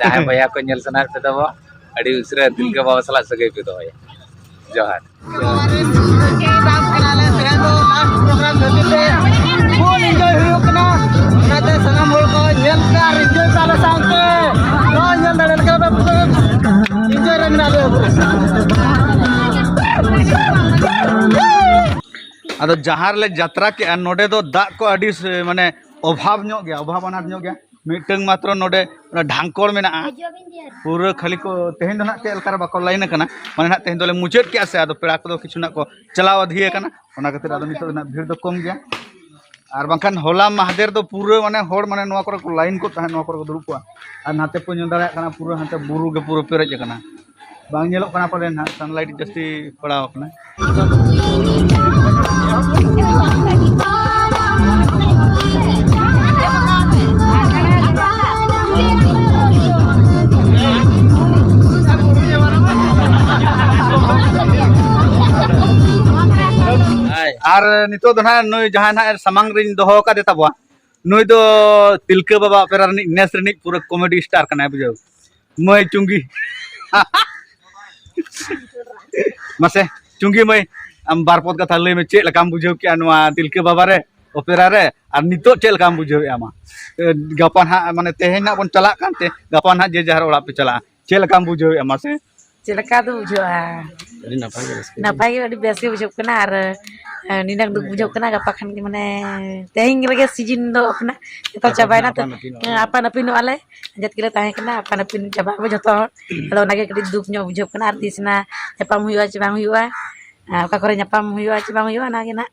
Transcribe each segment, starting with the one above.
ᱡᱟᱦᱟᱸᱭ ᱵᱚᱭᱦᱟ ᱠᱚ ᱧᱮᱞ ᱥᱟᱱᱟᱭᱮᱫ ᱯᱮ ᱛᱟᱵᱚ ᱟᱹᱰᱤ ᱩᱥᱟᱹᱨᱟ ᱛᱤᱞᱠᱟᱹ ᱵᱟᱵᱟ ᱥᱟᱞᱟᱜ ᱥᱟᱹᱜᱟᱹᱭ ᱯᱮ ᱫᱚᱦᱚᱭᱟ ᱡᱚᱦᱟᱨ ᱟᱫᱚ ᱡᱟᱦᱟᱸ ᱨᱮᱞᱮ ᱡᱟᱛᱨᱟ ᱠᱮᱜᱼᱟ ᱱᱚᱰᱮ ᱫᱚ ᱫᱟᱜ ᱠᱚ ᱟᱹᱰᱤ ᱢᱟᱱᱮ ᱚᱵᱷᱟᱵᱽ ᱧᱚᱜ ᱜᱮᱭᱟ ᱚᱵᱷᱟᱵᱽ ᱟᱱᱟᱴ ᱧᱚᱜ ᱜᱮᱭᱟ ᱢᱤᱫᱴᱟᱝ ᱢᱟᱛᱨᱚ ᱱᱚᱰᱮ ᱰᱷᱟᱝᱠᱚᱲ ᱢᱮᱱᱟᱜᱼᱟ ᱯᱩᱨᱟᱹ ᱠᱷᱟᱹᱞᱤ ᱠᱚ ᱛᱮᱦᱮᱧ ᱫᱚ ᱱᱟᱜ ᱪᱮᱫ ᱞᱮᱠᱟᱨᱮ ᱵᱟᱠᱚ ᱞᱟᱭᱤᱱ ᱟᱠᱟᱱᱟ ᱢᱟᱱᱮ ᱱᱟᱜ ᱛᱮᱦᱮᱧ ᱫᱚᱞᱮ ᱢᱩᱪᱟᱹᱫ ᱠᱮᱜᱼᱟ ᱥᱮ ᱟᱫᱚ ᱯᱮᱲᱟ ᱠᱚᱫᱚ ᱠᱤᱪᱷᱩ ᱱᱟᱜ ᱠᱚ ᱪᱟᱞᱟᱣ ᱟᱫᱷᱤ ᱟᱠᱟᱱᱟ ᱚᱱᱟ ᱠᱷᱟᱹᱛᱤᱨ ᱟᱫᱚ ᱱᱤᱛᱚᱜ ᱱᱟᱜ ᱵᱷᱤᱲ ᱫᱚ ᱠᱚᱢ ᱜᱮᱭᱟ ᱟᱨ ᱵᱟᱝᱠᱷᱟᱱ ᱦᱚᱞᱟ ᱢᱟᱦᱫᱮᱨ ᱫᱚ ᱯᱩᱨᱟᱹ ᱢᱟᱱᱮ ᱦᱚᱲ ᱢᱟᱱᱮ ᱱᱚᱣᱟ ᱠᱚᱨᱮ ᱠᱚ ᱞᱟᱭᱤᱱ ᱠᱚ ᱛᱟᱦᱮᱸᱫ ᱱᱚᱣᱟ ᱠᱚᱨᱮ ᱠᱚ ᱫᱩᱲᱩᱵ ᱠᱚᱜᱼᱟ ᱟᱨ ᱱᱟᱛᱮ ᱯᱮ ᱧᱮᱞ ᱫᱟᱲᱮᱭᱟᱜ ᱠᱟᱱᱟ ᱯᱩᱨᱟᱹ ᱦᱟᱱᱛᱮ ᱵᱩᱨᱩ ᱜᱮ ᱯᱩᱨᱟᱹ ᱯᱮᱨᱮᱡ ᱟᱠᱟᱱᱟ ᱵᱟᱝ ᱧᱮᱞᱚᱜ ᱠᱟᱱᱟ ᱯᱟᱞᱮᱱ ᱦᱟᱸᱜ ᱥᱟᱱᱞᱟᱭᱤᱴ ᱡᱟᱹᱥᱛᱤ ᱯᱟᱲᱟᱣ ᱠᱟᱱᱟ ᱟᱨ ᱱᱤᱛᱚᱜ ᱫᱚ ᱱᱟᱦᱟᱜ ᱱᱩᱭ ᱡᱟᱦᱟᱸᱭ ᱱᱟᱦᱟᱜ ᱥᱟᱢᱟᱝ ᱨᱤᱧ ᱫᱚᱦᱚ ᱟᱠᱟᱫᱮ ᱛᱟᱵᱚᱣᱟ ᱱᱩᱭ ᱫᱚ ᱛᱤᱞᱠᱟᱹ ᱵᱟᱵᱟ ᱚᱯᱮᱨᱟ ᱨᱤᱱᱤᱡ ᱱᱮᱥ ᱨᱤᱱᱤᱡ ᱯᱩᱨᱟᱹ ᱠᱚᱢᱮᱰᱤ ᱥᱴᱟᱨ ᱠᱟᱱᱟᱭ ᱵᱩᱡᱷᱟᱹᱣ ᱢᱟᱹᱭ ᱪᱩᱝᱜᱤ ᱢᱟᱥᱮ ᱪᱩᱝᱜᱤ ᱢᱟᱹᱭ ᱟᱢ ᱵᱟᱨ ᱯᱚᱫ ᱠᱟᱛᱷᱟ ᱞᱟᱹᱭ ᱢᱮ ᱪᱮᱫ ᱞᱮᱠᱟᱢ ᱵᱩᱡᱷᱟᱹᱣ ᱠᱮᱜᱼᱟ ᱱᱚᱣᱟ ᱛᱤᱞᱠᱟᱹ ᱵᱟᱵᱟ ᱨᱮ ᱚᱯᱮᱨᱟ ᱨᱮ ᱟᱨ ᱱᱤᱛᱚᱜ ᱪᱮᱫ ᱞᱮᱠᱟᱢ ᱵᱩᱡᱷᱟᱹᱣᱮᱜᱼᱟ ᱢᱟ ᱜᱟᱯᱟ ᱱᱟᱦᱟᱜ ᱢᱟᱱᱮ ᱛᱮᱦᱮᱧ ᱱᱟᱦᱟᱜ ᱵᱚᱱ ᱪᱟᱞᱟᱜ ᱠᱟᱱᱛᱮ ᱜᱟᱯᱟ ᱱᱟᱦᱟᱜ ᱡᱮ ᱡᱟᱦᱟᱨ ᱚᱲᱟᱜ ᱯᱮ ᱪᱟᱞᱟᱜᱼᱟ ᱪᱮᱫ ᱞᱮᱠᱟᱢ ᱵᱩᱡᱷᱟᱹᱣᱮᱜᱼᱟ ᱢᱟᱥᱮ ᱪᱮᱫ ᱞᱮᱠᱟ ᱫᱚ ᱵᱩᱡᱷᱟᱹᱜᱼᱟ ᱟᱹᱰᱤ ᱱᱟᱯᱟᱭ ᱜᱮ ᱨᱟᱹᱥᱠᱟᱹ ᱱᱟᱯᱟᱭ ᱜᱮ ᱟᱹᱰᱤ ᱵᱮᱥ ᱜᱮ ᱵᱩᱡᱷᱟᱹᱜ ᱠᱟᱱᱟ ᱟᱨ ᱟᱨ ᱱᱤᱱᱟᱹᱜ ᱫᱩᱠ ᱵᱩᱡᱷᱟᱹᱜ ᱠᱟᱱᱟ ᱜᱟᱯᱟ ᱠᱷᱟᱱ ᱜᱮ ᱢᱟᱱᱮ ᱛᱮᱦᱮᱧ ᱨᱮᱜᱮ ᱥᱤᱡᱤᱱ ᱫᱚ ᱠᱟᱱᱟ ᱡᱚᱛᱚ ᱪᱟᱵᱟᱭᱮᱱᱟ ᱛᱚ ᱟᱯᱟᱱ ᱟᱹᱯᱤᱱᱚᱜᱼᱟ ᱞᱮ ᱡᱟᱹᱛ ᱜᱮᱞᱮ ᱛᱟᱦᱮᱸ ᱠᱟᱱᱟ ᱟᱯᱟᱱ ᱟᱹᱯᱤᱱ ᱪᱟᱵᱟᱜ ᱟᱵᱚ ᱡᱚᱛᱚ ᱦᱚᱲ ᱟᱫᱚ ᱚᱱᱟᱜᱮ ᱠᱟᱹᱴᱤᱡ ᱫᱩᱠ ᱧᱚᱜ ᱵᱩᱡᱷᱟᱹᱜ ᱠᱟᱱᱟ ᱟᱨ ᱛᱤᱥ ᱱᱟ ᱧᱟᱯᱟᱢ ᱦᱩᱭᱩᱜᱼᱟ ᱪᱮ ᱵᱟᱝ ᱦᱩᱭᱩᱜᱼᱟ ᱚᱠᱟ ᱠᱚᱨᱮ ᱧᱟᱯᱟᱢ ᱦᱩᱭᱩᱜᱼᱟ ᱪᱮ ᱵᱟᱝ ᱦᱩᱭᱩᱜᱼᱟ ᱚᱱᱟᱜᱮ ᱱᱟᱦᱟᱜ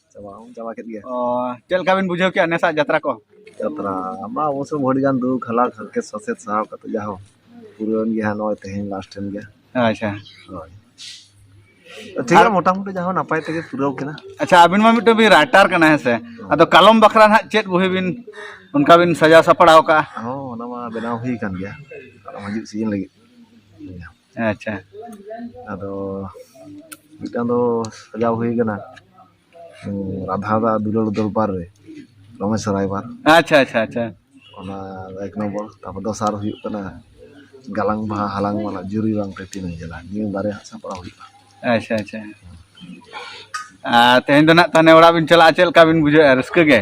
ᱪᱟᱵᱟ ᱠᱮᱫ ᱜᱮᱭᱟ ᱪᱮᱫ ᱞᱮᱠᱟ ᱵᱤᱱ ᱵᱩᱡᱷᱟᱹᱣ ᱠᱮᱫᱼᱟ ᱱᱮᱥᱟᱜ ᱡᱟᱛᱨᱟ ᱠᱚ ᱡᱟᱛᱨᱟ ᱢᱟ ᱚᱵᱚᱥᱥᱳᱭ ᱟᱹᱰᱤ ᱜᱟᱱ ᱫᱩᱠ ᱦᱟᱞᱟᱠ ᱦᱟᱨᱠᱮᱛ ᱥᱟᱥᱮᱛ ᱥᱟᱦᱟᱣ ᱠᱟᱛᱮ ᱡᱟᱦᱳ ᱯᱩᱨᱟᱹᱣᱮᱱ ᱜᱮᱭᱟ ᱦᱟᱸᱜ ᱱᱚᱜᱼᱚᱭ ᱛᱮᱦᱮᱧ ᱞᱟᱥᱴ ᱮᱱ ᱜᱮᱭᱟ ᱟᱪᱪᱷᱟ ᱦᱳᱭ ᱴᱷᱤᱠ ᱜᱮᱭᱟ ᱢᱚᱴᱟᱢᱩᱴᱤ ᱡᱟᱦᱳ ᱱᱟᱯᱟᱭ ᱛᱮᱜᱮ ᱯᱩᱨᱟᱹᱣ ᱠᱮᱫᱟ ᱟᱪᱪᱷᱟ ᱟᱹᱵᱤᱱ ᱢᱟ ᱢᱤᱫᱴᱟᱝ ᱵᱤᱱ ᱨᱟᱭᱴᱟᱨ ᱠᱟᱱᱟ ᱦᱮᱸ ᱥᱮ ᱟᱫᱚ ᱠᱟᱞᱚᱢ ᱵᱟᱠᱷᱨᱟ ᱦᱟᱸᱜ ᱪᱮᱫ ᱵᱳᱦᱤ ᱵᱤᱱ ᱚᱱᱠᱟ ᱵᱤᱱ ᱥᱟᱡᱟᱣ ᱥᱟᱯᱲᱟᱣ ᱠᱟᱜᱼᱟ ᱦᱚᱸ ᱚᱱᱟ ᱢᱟ ᱵᱮᱱᱟᱣ ᱦᱩᱭ ᱠᱟᱱ ᱜᱮᱭᱟ ᱦᱤᱡᱩᱜ ᱥᱤᱡᱤᱱ ᱞᱟᱹᱜᱤᱫ ᱟᱪᱪᱷᱟ ᱟᱫᱚ ᱢᱤᱫᱴᱟᱝ ᱫᱚ ᱥᱟᱡᱟᱣ ᱦᱩᱭ ᱠᱟᱱᱟ ᱨᱟᱫᱷᱟ ᱫᱟᱜ ᱫᱩᱞᱟᱹᱲ ᱫᱚᱨᱵᱟᱨ ᱨᱮ ᱨᱚᱢᱮᱥ ᱨᱟᱭᱵᱟᱨ ᱟᱪᱪᱷᱟ ᱟᱪᱪᱷᱟ ᱟᱪᱪᱷᱟ ᱚᱱᱟ ᱮᱠ ᱱᱚᱢᱵᱚᱨ ᱛᱟᱨᱯᱚᱨ ᱫᱚᱥᱟᱨ ᱦᱩᱭᱩᱜ ᱠᱟᱱᱟ ᱜᱟᱞᱟᱝ ᱵᱟᱦᱟ ᱦᱟᱞᱟᱝ ᱢᱟᱞᱟ ᱡᱩᱨᱤ ᱵᱟᱝ ᱛᱮ ᱛᱤᱱᱟᱹᱜ ᱡᱟᱞᱟ ᱱᱤᱭᱟᱹ ᱵᱟᱨᱭᱟ ᱦᱟᱸᱜ ᱥᱟᱯᱲᱟᱣ ᱦᱩᱭᱩᱜᱼᱟ ᱟᱪᱪᱷᱟ ᱟᱪᱪᱷᱟ ᱟᱨ ᱛᱮᱦᱮᱧ ᱫᱚ ᱱᱟᱜ ᱛᱟᱦᱚᱞᱮ ᱚᱲᱟᱜ ᱵᱤᱱ ᱪᱟᱞᱟᱜᱼᱟ ᱪᱮᱫ ᱞᱮᱠᱟ ᱵᱤᱱ ᱵᱩᱡᱷᱟᱹᱣᱮᱫᱼᱟ ᱨᱟᱹᱥᱠᱟᱹ ᱜᱮ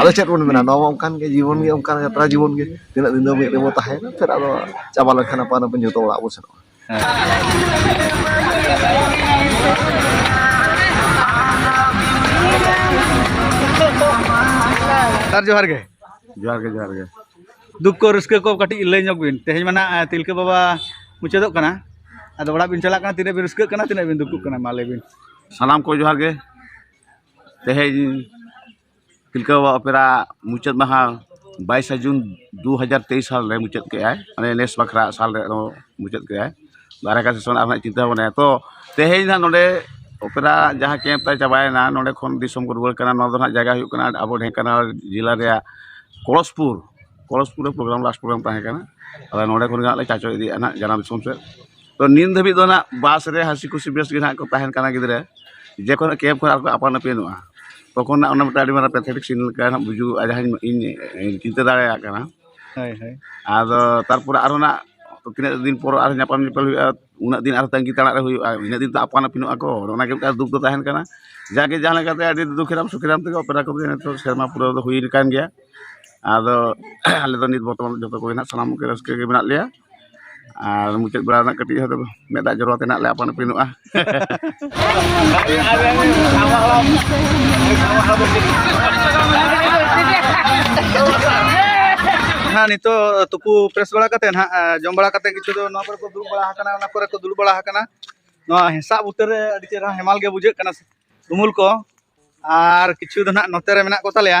ᱟᱫᱚ ᱪᱮᱫ ᱵᱚᱱ ᱢᱮᱱᱟ ᱱᱚᱣᱟ ᱚᱱᱠᱟᱱ ᱜᱮ ᱡᱤᱵᱚᱱ ᱜᱮ ᱚᱱᱠᱟᱱ ᱡᱟᱛᱨᱟ ᱡᱤᱵᱚᱱ ᱜᱮ ᱛᱤᱱᱟᱹᱜ ᱫᱤᱱ ᱫᱚ ᱢᱤᱫ ᱨᱮᱵᱚ ᱛᱟᱦᱮᱱᱟ ᱯᱷᱮᱨ ᱟᱫᱚ ᱪᱟᱵᱟ ᱞᱮᱱᱠᱷᱟᱱ ᱟᱯᱟᱱ ᱟᱹᱯᱤᱱ ᱡᱚᱛᱚ ᱚᱲᱟᱜ ᱵᱚ ᱥᱮᱱᱚᱜᱼᱟ ᱥᱟᱨ ᱡᱚᱦᱟᱨ ᱜᱮ ᱡᱚᱦᱟᱨ ᱜᱮ ᱡᱚᱦᱟᱨ ᱜᱮ ᱫᱩᱠ ᱠᱚ ᱨᱟᱹᱥᱠᱟᱹ ᱠᱚ ᱠᱟᱹᱴᱤᱡ ᱞᱟᱹᱭ ᱧᱚᱜ ᱵᱤᱱ ᱛᱮᱦᱮᱧ ᱢᱟ ᱱᱟᱜ ᱛᱤᱞᱠᱟᱹ ᱵᱟᱵᱟ ᱢᱩᱪᱟᱹᱫᱚᱜ ᱠᱟᱱᱟ ᱟᱫᱚ ᱚᱲᱟᱜ ᱵᱤᱱ ᱪᱟᱞᱟᱜ ᱠᱟᱱᱟ ᱛᱤᱱᱟᱹᱜ ᱵᱤᱱ ᱨᱟᱹᱥᱠᱟᱹᱜ ᱠᱟᱱᱟ ᱛᱤᱱᱟᱹᱜ ᱵᱤᱱ ᱫᱩᱠᱩᱜ ᱠᱟᱱᱟ ᱢᱟ ᱞᱟᱹᱭ ᱵᱤᱱ ᱥᱟᱱᱟᱢ ᱠᱚ ᱡᱚᱦᱟᱨ ᱜᱮ ᱛᱮᱦᱮᱧ ᱛᱤᱞᱠᱟᱹ ᱵᱟᱵᱟ ᱚᱯᱮᱨᱟ ᱢᱩᱪᱟᱹᱫ ᱢᱟᱦᱟ ᱵᱟᱭᱤᱥᱟ ᱡᱩᱱ ᱫᱩ ᱦᱟᱡᱟᱨ ᱛᱮᱭᱤᱥ ᱥᱟᱞ ᱨᱮ ᱢᱩᱪᱟᱹᱫ ᱠᱮᱜᱼᱟᱭ ᱢᱟᱱᱮ ᱱᱮᱥ ᱵᱟᱠᱷᱨᱟ ᱥᱟᱞ ᱨᱮ ᱟᱨᱚ ᱢᱩᱪᱟᱹᱫ ᱠᱮᱜᱼᱟᱭ ᱫᱟᱨᱟᱭ ᱠᱟᱱ ᱥᱮᱥᱚᱱ ᱟᱨᱦᱚᱸ ᱦᱟᱸᱜ ᱪᱤᱱᱛᱟᱹ ᱵᱷᱟᱵᱽᱱᱟᱭᱟ ᱛᱚ ᱛᱮᱦᱮᱧ ᱦᱟᱸᱜ ᱱᱚᱰᱮ ᱚᱯᱮᱨᱟ ᱡᱟᱦᱟᱸ ᱠᱮᱢᱯ ᱛᱟᱭ ᱪᱟᱵᱟᱭᱮᱱᱟ ᱱᱚᱰᱮ ᱠᱷᱚᱱ ᱫᱤᱥᱚᱢ ᱠᱚ ᱨᱩᱣᱟᱹᱲ ᱠᱟᱱᱟ ᱱᱚᱣᱟ ᱫᱚ ᱦᱟᱸᱜ ᱡᱟᱭᱜᱟ ᱦᱩᱭᱩᱜ ᱠᱟᱱᱟ ᱟᱵᱚ ᱰᱷᱮᱝᱠᱟᱱᱟᱞ ᱡᱮᱞᱟ ᱨᱮᱭᱟᱜ ᱯᱚᱨᱚᱥᱯᱩᱨ ᱯᱚᱨᱚᱥᱯᱩᱨ ᱨᱮ ᱯᱨᱳᱜᱨᱟᱢ ᱞᱟᱥᱴ ᱯᱨᱳᱜᱨᱟᱢ ᱛᱟᱦᱮᱸ ᱠᱟᱱᱟ ᱟᱫᱚ ᱱᱚᱰᱮ ᱠᱷᱚᱱ ᱜᱮ ᱦᱟᱸᱜ ᱞᱮ ᱪᱟᱪᱳ ᱤᱫᱤᱭᱮᱜᱼᱟ ᱦᱟᱸᱜ ᱡᱟᱱᱟᱢ ᱫᱤᱥᱚᱢ ᱥᱮᱫ ᱛᱚ ᱱᱤᱛ ᱫᱷᱟᱹᱵᱤᱡ ᱫᱚ ᱱᱟᱜ ᱵᱟᱥ ᱨᱮ ᱦᱟᱹᱥᱤ ᱠᱩᱥᱤ ᱵᱮᱥ ᱜᱮ ᱱᱟᱜ ᱠᱚ ᱛᱟᱦᱮᱱ ᱠᱟᱱᱟ ᱜᱤᱫᱽᱨᱟᱹ ᱡᱚᱠᱷᱚᱱ ᱠᱮᱵᱽ ᱠᱷᱚᱱ ᱟᱨᱠᱚ ᱟᱯᱟᱱ ᱟᱹᱯᱤᱱᱚᱜᱼᱟ ᱛᱚᱠᱷᱚᱱ ᱱᱟᱜ ᱚᱱᱟ ᱢᱤᱫᱴᱟᱝ ᱟᱹᱰᱤ ᱢᱟᱨᱟᱝ ᱯᱮᱛᱷᱮᱴᱤᱠ ᱥᱤᱱ ᱞᱮᱠᱟ ᱱᱟᱜ ᱵᱩᱡᱩᱜᱚᱜᱼᱟ ᱡᱟᱦᱟᱸ ᱤᱧ ᱤᱧ ᱪᱤᱱᱛᱟᱹ ᱫᱟᱲᱮᱭᱟᱜ ᱠᱟᱱᱟ ᱦᱳᱭ ᱦᱳᱭ ᱟᱫᱚ ᱛᱟᱨᱯᱚᱨᱮ ᱟᱨᱚ ᱱᱟᱜ ᱛᱤᱱᱟᱹᱜ ᱫᱤᱱ ᱯᱚᱨ ᱟᱨ ᱧᱟᱯᱟᱢ ᱧᱮᱯᱮᱞ ᱦᱩᱭᱩᱜᱼᱟ ᱩᱱᱟᱹᱜ ᱫᱤᱱ ᱟᱨ ᱛᱟᱺᱜᱤ ᱛᱟᱲᱟᱜ ᱨᱮ ᱦᱩᱭᱩᱜᱼᱟ ᱤᱱᱟᱹᱜ ᱫᱤᱱ ᱛᱚ ᱟᱯᱟᱱ ᱟᱹᱯᱤᱱᱚᱜᱼᱟ ᱠᱚ ᱚᱱᱟ ᱜᱮ ᱢᱤᱫᱴᱟᱝ ᱫᱩᱠ ᱫᱚ ᱛᱟᱦᱮᱱ ᱠᱟᱱᱟ ᱡᱟᱜᱮ ᱡᱟᱦᱟᱸ ᱞᱮᱠᱟᱛᱮ ᱟᱹᱰᱤ ᱫᱩᱠᱷᱮᱨᱟᱢ ᱥᱩᱠᱷᱮᱨᱟᱢ ᱛᱮᱜᱮ ᱚᱯᱮᱨᱟ ᱠᱚᱫᱚ ᱱᱤᱛᱚᱜ ᱥᱮᱨᱢᱟ ᱯᱩᱨᱟᱹᱣ ᱫᱚ ᱦᱩᱭ ᱟᱠᱟᱱ ᱜᱮᱭᱟ ᱟᱫᱚ ᱟᱞᱮ ᱫᱚ ᱱᱤᱛ ᱵᱚᱨᱛᱚᱢᱟᱱ ᱡᱚᱛᱚ ᱠᱚᱜᱮ ᱱᱟᱜ ᱥᱟᱱᱟᱢ ᱠᱚᱜᱮ ᱨᱟᱹᱥᱠᱟᱹ ᱜᱮ ᱢᱮᱱᱟᱜ ᱞᱮᱭᱟ ᱟᱨ ᱢᱩᱪᱟᱹᱫ ᱵᱮᱲᱟ ᱨᱮᱱᱟᱜ ᱠᱟᱹᱴᱤᱡ ᱦᱚᱭᱛᱳ ᱢᱮᱫ ᱫᱟᱜ ᱡᱚᱨᱚ ᱟᱛᱮᱫ ᱦᱟᱸᱜ ᱞᱮ ᱟᱯᱟᱱ ᱟᱹᱯᱤᱱᱚᱜᱼᱟ ᱦᱮᱸ ᱱᱤᱛᱚᱜ ᱛᱩᱯᱩ ᱯᱷᱨᱮᱥ ᱵᱟᱲᱟ ᱠᱟᱛᱮ ᱱᱟᱜ ᱡᱚᱢ ᱵᱟᱲᱟ ᱠᱟᱛᱮ ᱠᱤᱪᱷᱩ ᱫᱚ ᱱᱚᱣᱟ ᱠᱚᱨᱮ ᱠᱚ ᱫᱩᱲᱩᱵ ᱵᱟᱲᱟ ᱟᱠᱟᱱᱟ ᱚᱱᱟ ᱠᱚᱨᱮ ᱠᱚ ᱫᱩᱲᱩᱵ ᱵᱟᱲᱟ ᱟᱠᱟᱱᱟ ᱱᱚᱣᱟ ᱦᱮᱸᱥᱟᱜ ᱵᱩᱴᱟᱹ ᱨᱮ ᱟᱹᱰᱤ ᱪᱮᱦᱨᱟ ᱦᱮᱢᱟᱞ ᱜᱮ ᱵᱩᱡᱷᱟᱹᱜ ᱠᱟᱱᱟ ᱩᱢᱩᱞ ᱠᱚ ᱟᱨ ᱠᱤᱪᱷᱩ ᱫᱚ ᱱᱟᱜ ᱱᱚᱛᱮ ᱨᱮ ᱢᱮᱱᱟᱜ ᱠᱚᱛᱟᱞᱮᱭᱟ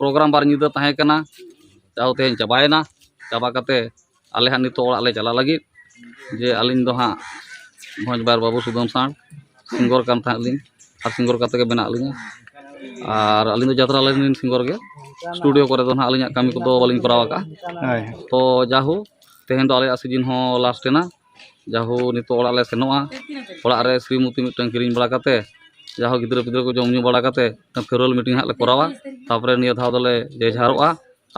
ᱯᱨᱳᱜᱨᱟᱢ ᱵᱟᱨ ᱧᱤᱫᱟᱹ ᱛᱟᱦᱮᱸ ᱠᱟᱱᱟ ᱡᱟᱦᱳ ᱛᱮᱦᱮᱧ ᱪᱟᱵᱟᱭᱮᱱᱟ ᱪᱟᱵᱟ ᱠᱟᱛᱮ ᱟᱞᱮ ᱦᱟᱸᱜ ᱱᱤᱛᱚᱜ ᱚᱲᱟᱜ ᱞᱮ ᱪᱟᱞᱟᱜ ᱞᱟᱹᱜᱤᱫ ᱡᱮ ᱟᱹᱞᱤᱧ ᱫᱚ ᱦᱟᱸᱜ ᱵᱷᱚᱸᱡᱽ ᱵᱟᱨ ᱵᱟᱹᱵᱩ ᱥᱩᱫᱟᱹᱢ ᱥᱟᱶ ᱥᱤᱝᱜᱚᱨ ᱠᱟᱱ ᱛᱟᱦᱮᱸᱫ ᱞᱤᱧ ᱟᱨ ᱥᱤᱝᱜᱚᱨ ᱠᱟᱛᱮ ᱜᱮ ᱢᱮᱱᱟᱜ ᱞᱤᱧᱟᱹ ᱟᱨ ᱟᱹᱞᱤᱧ ᱫᱚ ᱡᱟᱛᱨᱟ ᱞᱟᱭᱤᱱ ᱨᱮᱱ ᱥᱤᱝᱜᱚᱨ ᱜᱮ ᱥᱴᱩᱰᱤᱭᱳ ᱠᱚᱨᱮ ᱫᱚ ᱦᱟᱸᱜ ᱟᱹᱞᱤᱧᱟᱜ ᱠᱟᱹᱢᱤ ᱠᱚᱫᱚ ᱵᱟᱹᱞᱤᱧ ᱠᱚᱨᱟᱣ ᱟᱠᱟᱫᱼᱟ ᱦᱳᱭ ᱛᱚ ᱡᱟᱦᱳ ᱛᱮᱦᱮᱧ ᱫᱚ ᱟᱞᱮᱭᱟᱜ ᱥᱤᱡᱤᱱ ᱦᱚᱸ ᱞᱟᱥᱴ ᱮᱱᱟ ᱡᱟᱦᱳ ᱱᱤᱛᱚᱜ ᱚᱲᱟᱜ ᱞᱮ ᱥᱮᱱᱚᱜᱼᱟ ᱚᱲᱟᱜ ᱨᱮ ᱥᱨᱤᱢᱚᱛᱤ ᱢᱤᱫᱴᱟᱝ ᱠᱤᱨᱤᱧ ᱵᱟᱲᱟ ᱠᱟᱛᱮ ᱡᱟᱦᱳ ᱜᱤᱫᱽᱨᱟᱹ ᱯᱤᱫᱽᱨᱟᱹ ᱠᱚ ᱡᱚᱢ ᱧᱩ ᱵᱟᱲᱟ ᱠᱟᱛᱮ ᱢᱤᱫᱴᱟᱝ ᱯᱷᱮᱨᱚᱣᱮᱞ ᱢᱤᱴᱤᱝ ᱦᱟᱸᱜ ᱞᱮ ᱠᱚᱨᱟᱣᱟ ᱛᱟᱨᱯᱚᱨᱮ ᱱᱤᱭᱟᱹ ᱫᱷᱟᱣ ᱫᱚᱞᱮ ᱡᱮ ᱡᱷᱟᱨᱚᱜᱼᱟ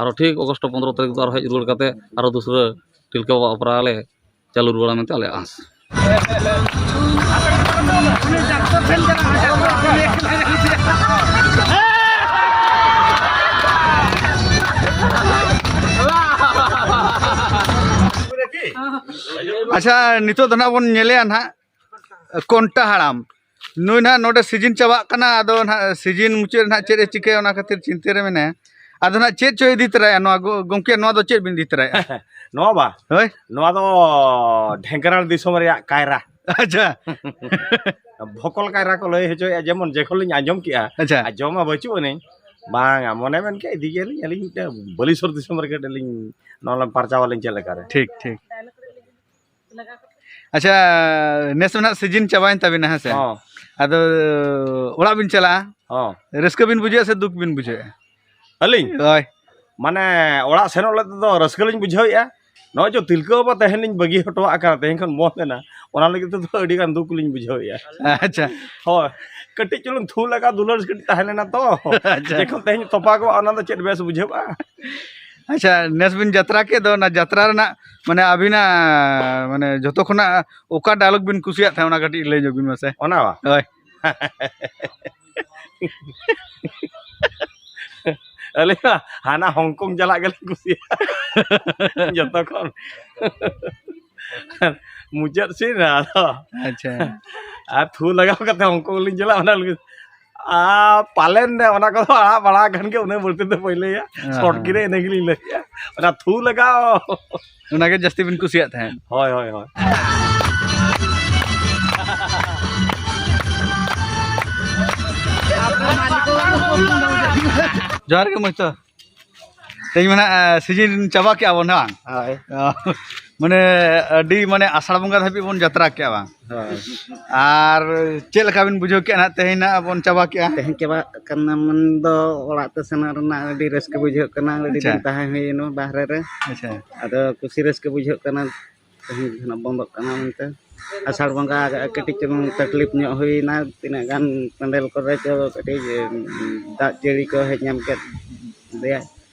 ᱟᱨᱚ ᱴᱷᱤᱠ ᱚᱜᱚᱥᱴ ᱯᱚᱸᱫᱽᱨᱚ ᱛᱟᱹᱨᱤᱠᱷ ᱫᱚ ᱟᱨᱚ ᱦᱮᱡ ᱨᱩᱣᱟᱹᱲ ᱠᱟᱛᱮ ᱟᱨᱚ ᱫᱩᱥᱨᱟᱹ ᱛᱤᱞᱠᱟᱹ ᱵᱟᱵᱟ ᱚᱯᱮᱨᱟ ᱞᱮ ᱪᱟᱹᱞᱩ ᱨᱩᱣᱟᱹᱲᱟ ᱢᱮᱱᱛᱮ ᱟᱞᱮᱭᱟᱜ ᱟᱸᱥ ᱟᱪᱪᱷᱟ ᱱᱤᱛᱚᱜ ᱫᱚ ᱱᱟᱜ ᱵᱚᱱ ᱧᱮᱞᱮᱜᱼᱟ ᱱᱟᱜ ᱠᱚᱱᱴᱟ ᱦᱟᱲᱟᱢ ᱱᱩᱭ ᱱᱟᱜ ᱱᱚᱰᱮ ᱥᱤᱡᱤᱱ ᱪᱟᱵᱟᱜ ᱠᱟᱱᱟ ᱟᱫᱚ ᱱᱟᱜ ᱥᱤᱡᱤᱱ ᱢᱩᱪᱟᱹᱫ ᱨᱮ ᱱᱟᱜ ᱪᱮᱫ ᱮ ᱪᱤᱠᱟᱹᱭᱟ ᱚᱱᱟ ᱠᱷᱟᱹᱛᱤᱨ ᱪᱤᱱᱛᱟᱹ ᱨᱮ ᱢᱮᱱᱟᱭᱟ ᱟᱫᱚ ᱱᱟᱜ ᱪᱮᱫ ᱪᱚᱭ ᱤᱫᱤ ᱛᱚᱨᱟᱭᱟ ᱱᱚᱣᱟ ᱜᱚᱢᱠᱮ ᱱᱚᱣᱟ ᱫᱚ ᱪᱮᱫ ᱵᱤᱱ ᱤᱫᱤ ᱛᱚᱨᱟᱭᱟ ᱱᱚᱣᱟ ᱵᱟ ᱦᱳᱭ ᱱᱚᱣᱟ ᱫᱚ ᱰᱷᱮᱝᱠᱟᱨᱟᱲ ᱫᱤᱥᱚᱢ ᱨᱮᱭᱟᱜ ᱠᱟᱭᱨᱟ ᱟᱪᱪᱷᱟ ᱵᱷᱚᱠᱚᱞ ᱠᱟᱭᱨᱟ ᱠᱚ ᱞᱟᱹᱭ ᱦᱚᱪᱚᱭᱮᱫᱼᱟ ᱡᱮᱢᱚᱱ ᱡᱮᱠᱷᱚᱱ ᱞᱤᱧ ᱟᱸᱡᱚᱢ ᱠᱮᱜᱼᱟ ᱟᱪᱪᱷᱟ ᱟᱨ ᱡᱚᱢᱟ ᱵᱟᱹᱪᱩᱜ ᱟᱹᱱᱤᱧ ᱵᱟᱝᱟ ᱢᱚᱱᱮ ᱢᱮᱱ ᱠᱮᱫ ᱤᱫᱤ ᱜᱮᱭᱟᱞᱤᱧ ᱟᱹᱞᱤᱧ ᱢᱤᱫᱴᱮᱱ ᱵᱟᱹᱞᱤᱥᱚᱨ ᱫᱤᱥᱚᱢ ᱨᱮ ᱠᱟᱹᱴᱤᱡ ᱞᱤᱧ ᱱᱚᱣᱟ ᱞᱤᱧ ᱯᱟᱨᱪᱟᱣ ᱟᱹᱞᱤᱧ ᱪᱮᱫ ᱞᱮᱠᱟᱨᱮ ᱴᱷᱤᱠ ᱴᱷᱤᱠ ᱟᱪᱪᱷᱟ ᱱᱮᱥ ᱢᱟ ᱱᱟᱦᱟᱜ ᱥᱤᱡᱤᱱ ᱪᱟᱵᱟᱭᱮᱱ ᱛᱟᱵᱤᱱᱟ ᱦᱮᱸ ᱥᱮ ᱦᱚᱸ ᱟᱫᱚ ᱚᱲᱟᱜ ᱵᱤᱱ ᱪᱟᱞᱟᱜᱼᱟ ᱦᱚᱸ ᱨᱟᱹᱥᱠᱟᱹ ᱵᱤᱱ ᱵᱩᱡᱷᱟᱹᱣᱟ ᱥᱮ ᱫᱩᱠ ᱵᱤᱱ ᱵᱩᱡᱷᱟᱹᱣᱟ ᱟᱹᱞᱤᱧ ᱦᱳᱭ ᱢᱟᱱᱮ ᱚᱲᱟᱜ ᱥᱮᱱᱚᱜ ᱞᱟᱹᱜᱤᱫ ᱛᱮᱫᱚ ᱨᱟᱹᱥᱠᱟᱹ ᱞᱤᱧ ᱵᱩᱡᱷᱟᱹᱣᱮᱫᱼᱟ ᱱᱚᱜᱼᱚᱭ ᱡᱮ ᱛᱤᱞᱠᱟᱹ ᱵᱟᱵᱟ ᱛᱟᱦᱮᱱ ᱞᱤᱧ ᱵᱟᱹᱜᱤ ᱦᱚᱴᱚᱣᱟᱜ ᱠᱟᱱᱟ ᱛᱮᱦᱮᱧ ᱠᱷᱚᱱ ᱵᱚᱱᱫᱷ ᱮᱱᱟ ᱚᱱᱟ ᱞᱟᱹᱜᱤᱫ ᱛᱮᱫᱚ ᱟᱹᱰᱤ ᱜᱟᱱ ᱫᱩᱠ ᱞᱤᱧ ᱵᱩᱡᱷᱟᱹᱣᱮᱫᱼᱟ ᱟᱪᱪᱷᱟ ᱦᱳᱭ ᱠᱟᱹᱴᱤᱡ ᱪᱩᱞᱩᱝ ᱛᱷᱩ ᱞᱟᱜᱟ ᱫᱩᱞᱟᱹᱲ ᱠᱟᱹᱴᱤᱡ ᱛᱟᱦᱮᱸ ᱞᱮᱱᱟ ᱛᱚ ᱟᱪᱪᱷᱟ ᱡᱮᱠᱷᱚᱱ ᱛᱮᱦᱮᱧ ᱛᱚᱯᱟᱜᱚᱜᱼᱟ ᱚᱱᱟ ᱫᱚ ᱪᱮᱫ ᱵᱮᱥ ᱵᱩᱡᱷᱟᱹᱜᱼᱟ ᱟᱪᱪᱷᱟ ᱱᱮᱥ ᱵᱤᱱ ᱡᱟᱛᱨᱟ ᱠᱮᱫ ᱫᱚ ᱚᱱᱟ ᱡᱟᱛᱨᱟ ᱨᱮᱱᱟᱜ ᱢᱟᱱᱮ ᱟᱹᱵᱤᱱᱟᱜ ᱢᱟᱱᱮ ᱡᱚᱛᱚ ᱠᱷᱚᱱᱟᱜ ᱚᱠᱟ ᱰᱟᱭᱞᱚᱜᱽ ᱵᱤᱱ ᱠᱩᱥᱤᱭᱟᱜ ᱛᱟᱦᱮᱸᱫ ᱚᱱᱟ ᱠᱟᱹᱴᱤᱡ ᱞᱟᱹᱭ ᱧᱚᱜᱽ ᱵᱤᱱ ᱢᱟᱥᱮ ᱚᱱᱟ ᱵᱟ ᱦᱳᱭ ᱟᱹᱞᱤᱧ ᱢᱟ ᱦᱟᱱᱟ ᱦᱚᱝᱠᱚᱝ ᱪᱟᱞᱟᱜ ᱜᱮᱞᱤᱧ ᱠᱩᱥᱤᱭᱟᱜᱼᱟ ᱡᱚᱛᱚ ᱠᱷᱚᱱ ᱢᱩᱪᱟᱹᱫ ᱥᱤᱱ ᱨᱮ ᱟᱫᱚ ᱟᱪᱪᱷᱟ ᱟᱨ ᱛᱷᱩ ᱞᱟᱜᱟᱣ ᱠᱟᱛᱮ ᱦᱚᱝᱠᱚᱝ ᱞᱤᱧ ᱪᱟᱞᱟᱜᱼᱟ ᱚᱱᱟ ᱞᱟᱹᱜᱤᱫ ᱟᱨ ᱯᱟᱞᱮᱱ ᱫᱚ ᱚᱱᱟ ᱠᱚᱫᱚ ᱟᱲᱟᱜ ᱵᱟᱲᱟ ᱟᱠᱟᱱ ᱜᱮ ᱩᱱᱟᱹᱜ ᱵᱟᱹᱲᱛᱤ ᱫᱚ ᱵᱟᱹᱧ ᱞᱟᱹᱭᱟ ᱥᱚᱨᱴ ᱜᱮ ᱤᱱᱟᱹ ᱜᱮᱞᱤᱧ ᱞᱟᱹᱭᱟ ᱚᱱᱟ ᱛᱷᱩ ᱞᱟᱜᱟᱣ ᱚᱱᱟᱜᱮ ᱡᱟᱹᱥᱛᱤ ᱵᱤᱱ ᱠᱩᱥᱤᱭᱟᱜ ᱛᱟᱦᱮᱸᱫ ᱦᱳᱭ ᱦᱳᱭ ᱦᱳᱭ ᱡᱚᱦᱟᱨ ᱜᱮ ᱢᱚᱡᱽᱛᱚ ᱛᱮᱦᱮᱧ ᱢᱟᱱᱮ ᱥᱤᱡᱤᱱ ᱪᱟᱵᱟ ᱠᱮᱜᱼᱟ ᱵᱚᱱ ᱵᱟᱝ ᱦᱳᱭ ᱢᱟᱱᱮ ᱟᱹᱰᱤ ᱢᱟᱱᱮ ᱟᱥᱟᱲ ᱵᱚᱸᱜᱟ ᱫᱷᱟᱹᱵᱤᱡ ᱵᱚᱱ ᱡᱟᱛᱨᱟ ᱠᱮᱜᱼᱟ ᱵᱟᱝ ᱦᱳᱭ ᱟᱨ ᱪᱮᱫ ᱞᱮᱠᱟ ᱵᱤᱱ ᱵᱩᱡᱷᱟᱹᱣ ᱠᱮᱜᱼᱟ ᱦᱟᱸᱜ ᱛᱮᱦᱮᱧ ᱦᱟᱸᱜ ᱵᱚᱱ ᱪᱟᱵᱟ ᱠᱮᱜᱼᱟ ᱛᱮᱦᱮᱧ ᱪᱟᱵᱟᱜ ᱠᱟᱱᱟ ᱢᱮᱱ ᱫᱚ ᱚᱲᱟᱜ ᱛᱮ ᱥᱮᱱᱚᱜ ᱨᱮᱱᱟᱜ ᱟᱹᱰᱤ ᱨᱟᱹᱥᱠᱟᱹ ᱵᱩᱡᱷᱟᱹᱜ ᱠᱟᱱᱟ ᱟᱹᱰᱤ ᱫᱤᱱ ᱟᱪᱪᱷᱟ᱾ ᱛᱟᱦᱮᱸ ᱦᱩᱭᱮᱱᱟ ᱵᱟᱦᱨᱮ ᱨᱮ ᱟᱪᱪᱷᱟ ᱟᱫᱚ ᱠᱩᱥᱤ ᱨᱟᱹᱥᱠᱟᱹ ᱵᱩᱡᱷᱟᱹᱜ ᱠᱟᱱᱟ ᱛᱮᱦᱮᱧ ᱫᱚ ᱱᱟᱜ ᱵᱚᱱᱫᱚᱜ ᱠᱟᱱᱟ ᱢᱮᱱᱛᱮ ᱟᱥᱟᱲ ᱵᱚᱸᱜᱟ ᱠᱟᱹᱴᱤᱡ ᱪᱩᱞᱩᱝ ᱛᱟᱠᱞᱤᱯ ᱧᱚᱜ ᱦᱩᱭᱱᱟ ᱛᱤᱱᱟᱹᱜ ᱜᱟᱱ ᱯᱮᱱᱰᱮᱞ ᱠᱚᱨᱮ ᱪᱚ ᱠᱟᱹᱴᱤᱡ ᱫᱟᱜ ᱡᱟᱹᱲᱤ ᱠᱚ ᱦᱮᱡ ᱧᱟᱢ ᱠᱮᱫ ᱞᱮᱭᱟ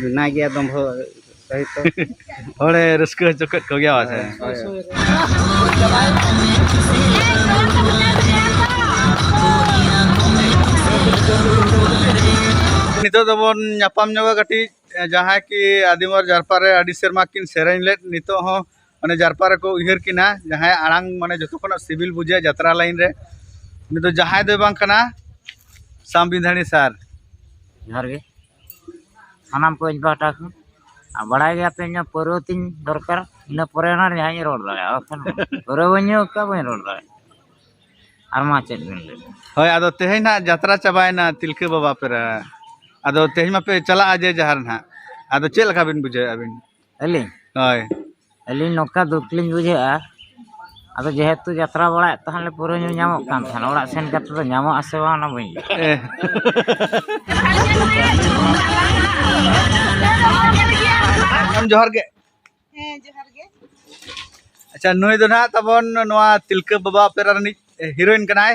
ᱢᱮᱱᱟᱭ ᱜᱮᱭᱟ ᱫᱚᱢ ᱦᱚᱲ ᱦᱚᱲᱮ ᱨᱟᱹᱥᱠᱟᱹ ᱦᱚᱪᱚ ᱠᱮᱫ ᱠᱚᱜᱮᱭᱟ ᱯᱟᱥᱮ ᱱᱤᱛᱚᱜ ᱫᱚᱵᱚᱱ ᱧᱟᱯᱟᱢ ᱧᱚᱜᱟ ᱠᱟᱹᱴᱤᱡ ᱡᱟᱦᱟᱸᱭ ᱠᱤ ᱟᱹᱰᱤ ᱢᱚᱡᱽ ᱡᱟᱨᱯᱟ ᱨᱮ ᱟᱹᱰᱤ ᱥᱮᱨᱢᱟ ᱠᱤᱱ ᱥᱮᱨᱮᱧ ᱞᱮᱫ ᱱᱤᱛᱚᱜ ᱦᱚᱸ ᱢᱟᱱᱮ ᱡᱟᱨᱯᱟ ᱨᱮᱠᱚ ᱩᱭᱦᱟᱹᱨ ᱠᱤᱱᱟ ᱡᱟᱦᱟᱸᱭ ᱟᱲᱟᱝ ᱢᱟᱱᱮ ᱡᱚᱛᱚ ᱠᱷᱚᱱᱟᱜ ᱥᱤᱵᱤᱞ ᱵᱩᱡᱷᱟᱹᱜᱼᱟ ᱡᱟᱛᱨᱟ ᱞᱟᱭᱤᱱ ᱨᱮ ᱩᱱᱤ ᱫᱚ ᱡᱟᱦᱟᱸᱭ ᱫᱚᱭ ᱵᱟᱝ ᱠᱟᱱᱟ ᱥᱟᱢᱵᱤᱫᱷᱟᱱᱤ ᱥᱟᱨ ᱡᱚᱦᱟᱨ ᱜᱮ ᱥᱟᱱᱟᱢ ᱠᱚ ᱤᱧ ᱯᱟᱦᱴᱟ ᱠᱷᱚᱱ ᱟᱨ ᱵᱟᱲᱟᱭ ᱜᱮᱭᱟ ᱯᱮ ᱤᱧᱟᱹᱜ ᱯᱟᱹᱨᱣᱟᱹ ᱛᱤᱧ ᱫᱚᱨᱠᱟᱨ ᱤᱱᱟᱹ ᱯᱚᱨᱮ ᱱᱟ ᱡᱟᱦᱟᱸᱧ ᱨᱚᱲ ᱫᱟᱲᱮᱭᱟᱜᱼᱟ ᱵᱟᱠᱷᱟᱱ ᱯᱟᱹᱨᱣᱟᱹ ᱵᱟᱹᱧ ᱧᱩ ᱠᱟᱜ ᱵᱟᱹᱧ ᱨᱚᱲ ᱫᱟᱲᱮᱭᱟᱜᱼᱟ ᱟᱨ ᱢᱟ ᱪᱮᱫ ᱵᱤᱱ ᱞᱟᱹᱭ ᱦᱳᱭ ᱟᱫᱚ ᱛᱮᱦᱮᱧ ᱱᱟᱜ ᱡᱟᱛᱨᱟ ᱪᱟᱵᱟᱭᱮᱱᱟ ᱛᱤᱞᱠᱟᱹ ᱵᱟᱵᱟ ᱯᱮᱨᱟ ᱟᱫᱚ ᱛᱮᱦᱮᱧ ᱢᱟᱯᱮ ᱪᱟᱞᱟᱜᱼᱟ ᱡᱮ ᱡᱟᱦᱟᱨ ᱱᱟᱜ ᱟᱫᱚ ᱪᱮᱫ ᱞᱮᱠᱟ ᱵᱤᱱ ᱵᱩᱡᱷᱟᱹᱣᱮᱫᱼᱟ ᱟᱹᱵᱤᱱ ᱟᱹᱞᱤᱧ ᱦᱳᱭ ᱟᱹᱞᱤᱧ ᱱᱚᱝᱠᱟ ᱫᱩᱠ ᱞᱤᱧ ᱵᱩᱡᱷᱟᱹᱣᱮᱫᱼᱟ ᱟᱫᱚ ᱡᱮᱦᱮᱛᱩ ᱡᱟᱛᱨᱟ ᱵᱟᱲᱟᱭᱮᱫ ᱛᱟᱦᱮᱱ ᱞᱮ ᱯᱟᱹᱣᱨᱟᱹ ᱧᱩ ᱧᱟᱢᱚᱜ ᱠᱟᱱ ᱛᱟᱦᱮᱱ ᱚᱲᱟᱜ ᱥᱮᱱ ᱠᱟᱛᱮᱫ ᱫᱚ ᱧᱟᱢᱚᱜ ᱟᱥᱮ ᱵᱟᱝ ᱚᱱᱟ ᱵᱟᱹᱧ ᱞᱟᱹᱭ ᱢᱮᱰᱟᱢ ᱡᱚᱦᱟᱨ ᱜᱮ ᱦᱮᱸ ᱡᱚᱦᱟᱨ ᱜᱮ ᱟᱪᱪᱷᱟ ᱱᱩᱭ ᱫᱚ ᱱᱟᱦᱟᱜ ᱛᱟᱵᱚᱱ ᱱᱚᱣᱟ ᱛᱤᱞᱠᱟᱹ ᱵᱟᱵᱟ ᱚᱯᱮᱨᱟ ᱨᱤᱱᱤᱡ ᱦᱤᱨᱳᱭᱤᱱ ᱠᱟᱱᱟᱭ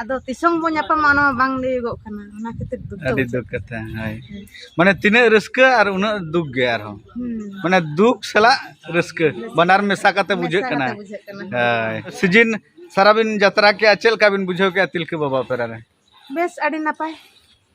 ᱟᱫᱚ ᱛᱤᱥᱚᱝ ᱵᱚᱱ ᱧᱟᱯᱟᱢᱟ ᱚᱱᱟ ᱵᱟᱝ ᱞᱟᱹᱭᱚᱜᱚᱜ ᱠᱟᱱᱟ ᱚᱱᱟ ᱠᱷᱟᱹᱛᱤᱨ ᱫᱩᱠ ᱟᱹᱰᱤ ᱫᱩᱠ ᱠᱟᱛᱷᱟ ᱦᱳᱭ ᱢᱟᱱᱮ ᱛᱤᱱᱟᱹᱜ ᱨᱟᱹᱥᱠᱟᱹ ᱟᱨ ᱩᱱᱟᱹᱜ ᱫᱩᱠ ᱜᱮ ᱟᱨᱦᱚᱸ ᱢᱟᱱᱮ ᱫᱩᱠ ᱥᱟᱞᱟᱜ ᱨᱟᱹᱥᱠᱟᱹ ᱵᱟᱱᱟᱨ ᱢᱮᱥᱟ ᱠᱟᱛᱮ ᱵᱩᱡᱷᱟᱹᱜ ᱠᱟᱱᱟ ᱦᱳᱭ ᱥᱤᱡᱤᱱ ᱥᱟᱨᱟ ᱵᱤᱱ ᱡᱟᱛᱨᱟ ᱠᱮᱜᱼᱟ ᱪᱮᱫ ᱞᱮᱠᱟ ᱵᱤᱱ ᱵᱩᱡᱷᱟᱹᱣ ᱠᱮᱜᱼᱟ ᱛᱤᱞᱠᱟᱹ ᱵᱟᱵᱟ ᱚᱯᱮᱨᱟ ᱨᱮ ᱵᱮᱥ ᱟᱹᱰᱤ ᱱᱟᱯᱟᱭ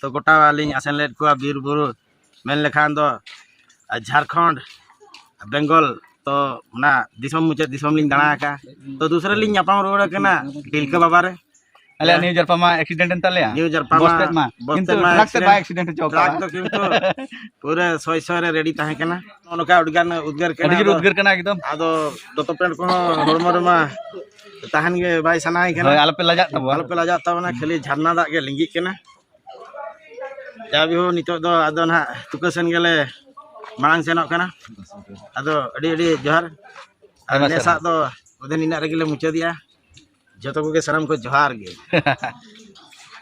ᱛᱚ ᱜᱚᱴᱟ ᱞᱤᱧ ᱟᱥᱮᱱ ᱞᱮᱫ ᱠᱚᱣᱟ ᱵᱤᱨ ᱵᱩᱨᱩ ᱢᱮᱱ ᱞᱮᱠᱷᱟᱱ ᱫᱚ ᱡᱷᱟᱲᱠᱷᱚᱸᱰ ᱵᱮᱝᱜᱚᱞ ᱛᱚ ᱚᱱᱟ ᱫᱤᱥᱚᱢ ᱢᱩᱪᱟᱹᱫ ᱫᱤᱥᱚᱢ ᱞᱤᱧ ᱫᱟᱬᱟ ᱟᱠᱟᱫᱼᱟ ᱛᱚ ᱫᱩᱥᱨᱟ ᱞᱤᱧ ᱧᱟᱯᱟᱢ ᱨᱩᱣᱟᱹᱲ ᱟᱠᱟᱱᱟ ᱛᱤᱞᱠᱟᱹ ᱵᱟᱵᱟ ᱨᱮ ᱟᱞᱮ ᱱᱤᱭᱩ ᱡᱟᱨᱯᱟ ᱢᱟ ᱮᱠᱥᱤᱰᱮᱱᱴ ᱮᱱ ᱛᱟᱞᱮᱭᱟ ᱱᱤᱭᱩ ᱡᱟᱨᱯᱟ ᱢᱟ ᱵᱚᱥᱛᱮᱫ ᱢᱟ ᱠᱤᱱᱛᱩ ᱴᱨᱟᱠ ᱛᱮ ᱵᱟᱭ ᱮᱠᱥᱤᱰᱮᱱᱴ ᱦᱚᱪᱚ ᱴᱨᱟᱠ ᱫᱚ ᱠᱤᱱᱛᱩ ᱯᱩᱨᱟᱹ ᱥᱚᱭ ᱥᱚᱭ ᱨᱮ ᱨᱮᱰᱤ ᱛᱟᱦᱮᱸ ᱠᱟᱱᱟ ᱱᱚᱝᱠᱟ ᱟᱹᱰᱤᱜᱟᱱ ᱩᱫᱽᱜᱟᱹᱨ ᱠᱟᱱᱟ ᱟᱹᱰᱤ ᱡᱳᱨ ᱩᱫᱽᱜᱟᱹᱨ ᱠᱟᱱᱟ ᱮᱠᱫᱚᱢ ᱟᱫᱚ ᱫᱚᱛᱚ ᱯᱮᱱᱴ ᱠᱚᱦᱚᱸ ᱦᱚᱲᱢᱚ ᱨᱮᱢᱟ ᱛᱟᱦᱮᱱ ᱜᱮ ᱵᱟᱭ ᱥᱟᱱᱟᱭ ᱠᱟᱱᱟ ᱦᱳᱭ ᱟᱞᱚᱯᱮ ᱞᱟᱡᱟᱜ ᱛᱟᱵᱚᱱᱟ ᱟᱞᱚᱯᱮ ᱞᱟᱡᱟᱜ ᱛᱟᱵᱚᱱᱟ ᱠᱷᱟᱹᱞᱤ ᱡᱷᱟᱨᱱᱟ ᱫᱟᱜ ᱜᱮ ᱞᱤᱸᱜᱤᱜ ᱠᱟᱱᱟ ᱡᱟ ᱵᱤᱦᱩ ᱱᱤᱛᱚᱜ ᱫᱚ ᱟᱫᱚ ᱱᱟᱦᱟᱜ ᱛᱩᱠᱟᱹ ᱥᱮᱱ ᱜᱮᱞᱮ ᱢᱟᱲᱟᱝ ᱥᱮᱱᱚᱜ ᱠᱟᱱᱟ ᱟᱫᱚ ᱟᱹᱰᱤ ᱟᱹᱰᱤ ᱡᱚᱦᱟᱨ ᱟᱨ ᱟᱭᱢᱟ ᱱᱮᱥᱟᱜ ᱫᱚ ᱚᱫᱷᱮ ᱱᱤᱱᱟᱜ ᱨᱮᱜᱮ ᱞᱮ ᱢᱩᱪᱟᱹᱫᱮᱜᱼᱟ ᱡᱚᱛᱚ ᱠᱚᱜᱮ ᱥᱟᱱᱟᱢ ᱠᱚ ᱡᱚᱦᱟᱨ ᱜᱮ